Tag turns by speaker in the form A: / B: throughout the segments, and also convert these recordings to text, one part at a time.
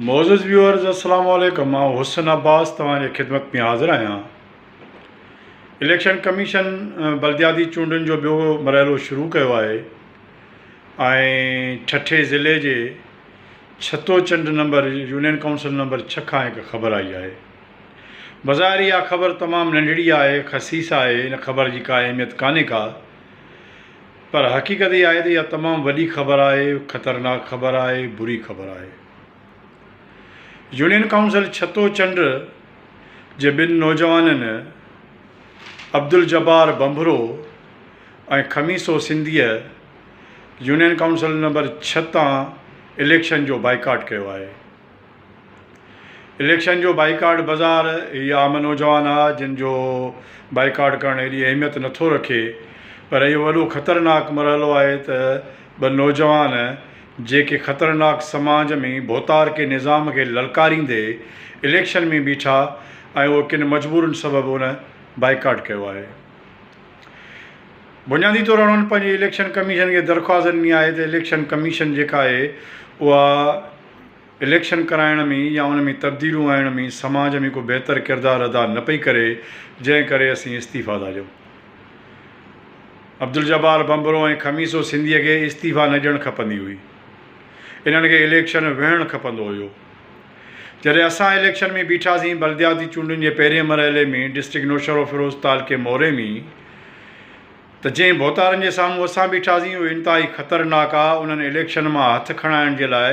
A: معزز ويورز السلام عليڪم آئون حسن عباس توهان جي خدمت ۾ حاضر آهيان اليڪشن ڪميشن بلدياتي چونڊن جو ٻيو مرحلو شروع ڪيو آهي ۽ ٺٽي ضلعي جي Chhato Chand number union council number ڇهه کان هڪ خبر آئي آهي بظاهر اها خبر تمام ننڍڙي آهي خسيس آهي ان خبر جي ڪا اهميت ڪانهي ڪا پر حقيقت اها آهي ته اها تمام وڏي خبر آهي، خطرناڪ خبر آهي، بري خبر آهي. يونين ڪائونسل ڇتو چنڊ جي ٻن نوجوانن عبدالجبار ڀنڀرو ۽ خميسو سنڌيء يونين ڪائونسل نمبر ڇهه تان اليڪشن جو بائيڪاٽ ڪيو آهي. اليڪشن جو بائيڪاٽ بازار هي عام نوجوان آ جن جو بائيڪاٽ ڪرڻ ايڏي اهميت نٿو رکي پر اهو وڏو خطرناڪ مرحلو آهي ته ٻه نوجوان جيڪي خطرناڪ سماج ۾ ڀوتار ڪي نظام کي للڪاريندي اليڪشن ۾ بيٺا ۽ اهو ڪن مجبورين سبب ان بائيڪاٽ ڪيو آهي بنيادي طور انهن پنهنجي اليڪشن ڪميشن کي درخواست ڏني آهي ته اليڪشن ڪميشن جيڪا آهي اها اليڪشن ڪرائڻ ۾ يا ان ۾ تبديليون آڻڻ ۾ سماج ۾ ڪو بهتر ڪردار ادا نه پئي ڪري جنهن ڪري اسين استعيفيٰ ٿا ڏيون. عبدالجبار ڀنڀرو ۽ خميسو سنڌيء کي استعيفيٰ نه ڏيڻ کپندي هئي. انهن کي اليڪشن وهڻ کپندو هيو. جڏهن اسان اليڪشن ۾ بيٺاسين بلدياتي چونڊن جي پهرين مرحلي ۾ ڊسٽرڪٽ نوشهروفيروز تعلقي موري ۾ ته جنهن ڀوتارن جي سامهون اسان بيٺاسين اهي انتهائي خطرناڪ آ، انهن اليڪشن مان هٿ کڻائڻ جي لاء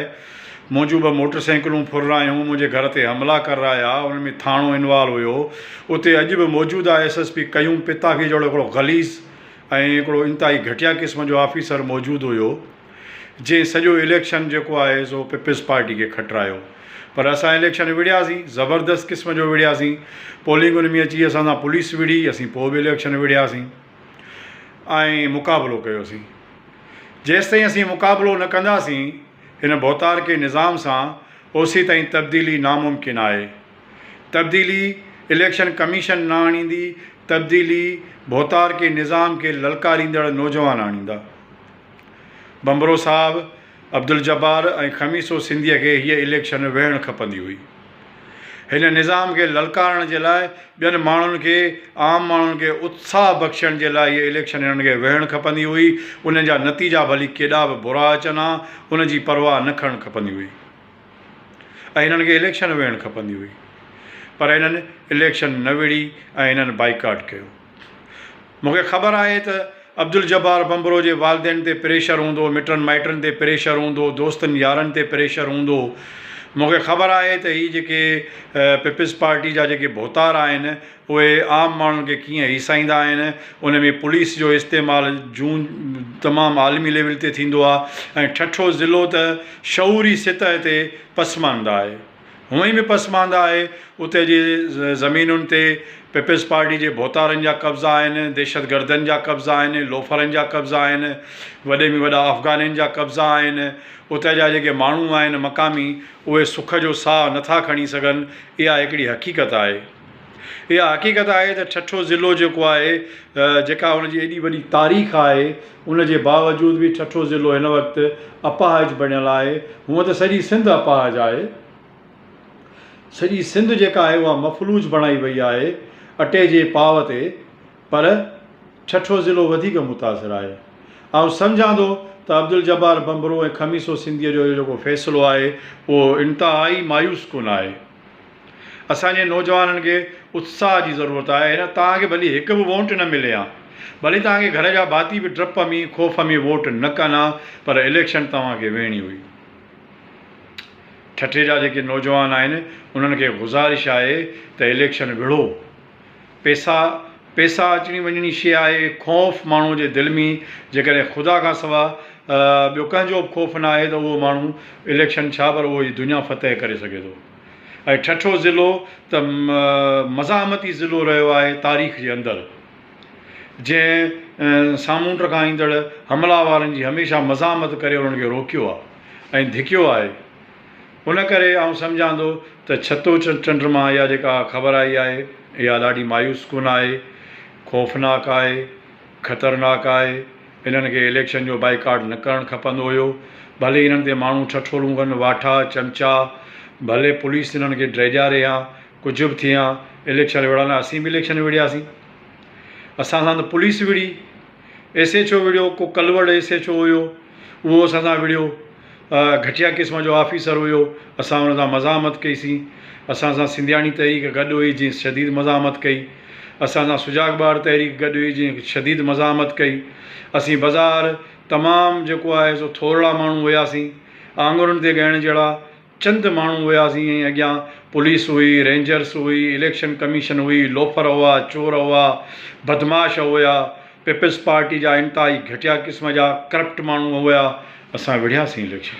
A: منهنجون ٻه موٽر سائيڪلون ڦر رايون، منهنجي گهر تي حملا ڪر رايا، انهن ۾ ٿاڻو انوالو هيو، اتي اڄ به موجود آ S S P Qayyum Patafi جهڙو هڪڙو غليظ ۽ هڪڙو انتهائي گهٽيا قسم جو آفيسر موجود هيو. جنهن سڄو اليڪشن جيڪو آهي سو پيپلز پارٽي کي کٽرايو پر اسان اليڪشن وڙهياسين زبردست قسم جو وڙهياسين پولنگ ان ۾ اچي اسان سان پوليس وڙهي اسين پوء به اليڪشن وڙهياسين ۽ مقابلو ڪيوسين جيستائين اسين مقابلو نه ڪنداسين هن ڀوتار کي نظام سان اوسي تائين تبديلي ناممڪن آهي تبديلي اليڪشن ڪميشن نه آڻيندي تبديلي ڀوتار کي نظام کي للڪاريندڙ نوجوان آڻيندا. ڀنڀرو صاحب، عبدالجبار ۽ خميسو سنڌيء کي هيء اليڪشن ويهڻ کپندي هئي. هن نظام کي للڪارڻ جي لاء ٻين ماڻهن کي، عام ماڻهن کي اتساهه بخشڻ جي لاء هيء اليڪشن هنن کي ويهڻ کپندي هئي. ان جا نتيجا ڀلي ڪيڏا به برا اچن ها، ان جي پرواهه نه ڪرڻ کپندي هئي ۽ هنن کي اليڪشن ويهڻ کپندي هئي. پر هنن اليڪشن نه ويڙهي ۽ هنن بائيڪاٽ ڪيو. مون کي خبر آهي ته عبدالجبار ڀنڀرو جي والدين تي پريشر هوندو، مٽن مائٽن تي پريشر هوندو، دوستن يارن تي پريشر هوندو. مون کي خبر آهي ته هي جيڪي پيپلز پارٽي جا جيڪي ڀوتار آهن اهي عام ماڻهن کي ڪيئن هيسائيندا آهن ان ۾ پوليس جو استعمال جون تمام عالمي ليول تي ٿيندو آهي ۽ ٺٺو ضلعو ته شعوري سطح تي پسمانده آهي. هونئن به پسمانده آهي، اتي جي زمينن تي پيپلز پارٽي جي ڀوتارن جا قبضا آهن، دهشتگردن جا قبضا آهن، لوفرن جا قبضا آهن، وڏي ۾ وڏا افغانين جا قبضا آهن، اتي جا جيڪي ماڻهو آهن مقامي اهي سک جو ساهه نٿا کڻي سگهن، اها هڪڙي حقيقت آهي. اها حقيقت آهي ته ٺٽو ضلعو جيڪو آهي جيڪا ان جي ايڏي وڏي تاريخ آهي ان جي باوجود به ٺٽو ضلعو هن وقت اپاهج بڻيل آهي هونء ته سڄي سنڌ اپاهج آهي سڄي سنڌ جيڪا آهي اها مفلوج بڻائي وئي آهي اٽي جي پاء تي پر ٺٽو ضلعو وڌيڪ متاثر آهي آئون سمجهان ٿو ته عبدالجبار ڀنڀرو ۽ خميسو سنڌيء جو اهو جيڪو فيصلو آهي اهو انتهائي مايوس ڪن آهي. اسان جي نوجوانن کي اتساهه جي ضرورت آهي هن توهان کي ڀلي هڪ به وونٽ نه ملي ها ڀلي توهان کي گهر جا ڀاتي به ڊپ ۾ خوف ۾ ووٽ نه ڪن ها پر اليڪشن توهان کي ويهڻي هئي ٺٽي جا جيڪي نوجوان آهن انهن کي گذارش آهي ته اليڪشن وڙهو. پيسا، پيسا اچڻي وڃڻي شيء آهي. خوف، ماڻهوء جي دل ۾ جيڪڏهن خدا کان سواء ٻيو ڪنهن جو به خوف نه آهي ته اهو ماڻهو اليڪشن ڇا پر اهو هي دنيا فتح ڪري سگهي ٿو. ۽ ٺٺو ضلعو ته مزاحمتي ضلعو رهيو آهي تاريخ جي اندر جنهن سامونڊ کان ايندڙ حملا وارن جي هميشه مزاحمت ڪري انهن کي روڪيو آهي ۽ ڌڪيو آهي. ان ڪري آئون سمجهان ٿو ته ڇتو چنڊ مان اها جيڪا خبر آئي آهي اها ڏاڍي مايوس ڪن آهي، خوفناڪ آهي، خطرناڪ آهي، انهن کي اليڪشن جو بائيڪاٽ نه ڪرڻ کپندو هيو، ڀلي انهن تي ماڻهو ٺٺولون ڪن، واٺا، چمچا، ڀلي پوليس انهن کي ڊيڄاري هان، ڪجهه به ٿي هان، اليڪشن وڙهڻ لاء اسين به اليڪشن وڙهياسين، اسان سان ته پوليس وڙهي. ايس ايڇ او وڙهيو ڪو ڪلوڙ ايس ايڇ او هيو اهو اسان سان وڙهيو گهٽيا قسم جو آفيسر هيو اسان ان سان مزاحمت ڪئي سين اسان سان سنڌياڻي تحريڪ گڏ هئي جنهن شديد مزاحمت ڪئي اسان سان سجاڳ ٻار تحريڪ گڏ هئي جنهن شديد مزاحمت ڪئي اسين بظاهر تمام جيڪو آهي سو ٿورڙا ماڻهو هياسين آڱرين تي ڳڻڻ جهڙا چند ماڻهو هياسين ۽ اڳيان پوليس هئي، رينجرز هئي، اليڪشن ڪميشن هئي، لوفر هئا، چور هئا، بدمعاش هئا، پيپلز پارٽي جا انتهائي گهٽيا قسم جا ڪرپٽ ماڻهو هئا، اسان وڙهياسين اليڪشن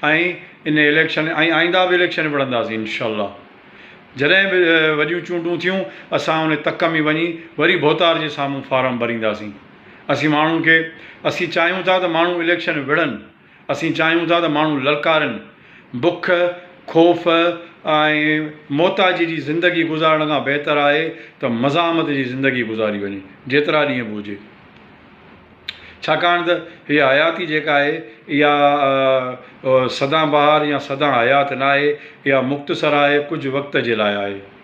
A: ۽ ان اليڪشن ۽ آئنده به اليڪشن وڙهنداسين انشاء الله جڏهن به وڏيون چونڊون ٿيون اسان ان تڪ ۾ وڃي وري ڀوتار جي سامهون فارم ڀرينداسين، اسين ماڻهن کي اسين چاهيون ٿا ته ماڻهو اليڪشن وڙهن. اسين چاهيون ٿا ته ماڻهو للڪارين، بک، خوف ۽ محتاجي جي زندگي گذارڻ کان بهتر آهي ته مزاحمت جي زندگي گذاري وڃي، جيترا ڏينهن به هجي. ڇاڪاڻ ته هيء حياتي جيڪا آهي، اها سدان بهار يا سدان حيات ناهي، اها مختصر آهي، ڪجهه وقت جي لاء آهي.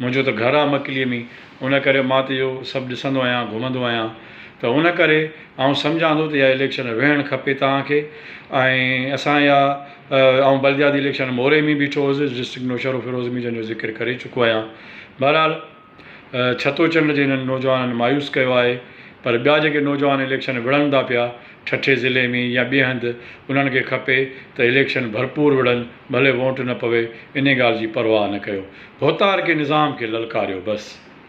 A: منهنجو ته گهر آ مڪليء ۾ ان ڪري مان ته اهو سڀ ڏسندو آهيان گهمندو آهيان ته ان ڪري آئون سمجهان ٿو ته اها اليڪشن ويهڻ کپي توهان کي ۽ اسان يا آئون بلدياتي اليڪشن موري ۾ بيٺو هوس ڊسٽرڪٽ نوشهروفيروز ۾ جنهن جو ذڪر ڪري چڪو آهيان بهرحال ڇتو چنڊ جي هنن نوجوانن مايوس ڪيو آهي پر ٻيا جيڪي نوجوان اليڪشن وڙهن ٿا پيا ٺٽي ضلعي ۾ يا ٻئي هنڌ انهن کي کپي ته اليڪشن ڀرپور وڙهن ڀلي وونٽ نه پوي انهي ڳالهه جي پرواهه نه ڪيو ڀوتار ڪي نظام کي للڪاريو بس.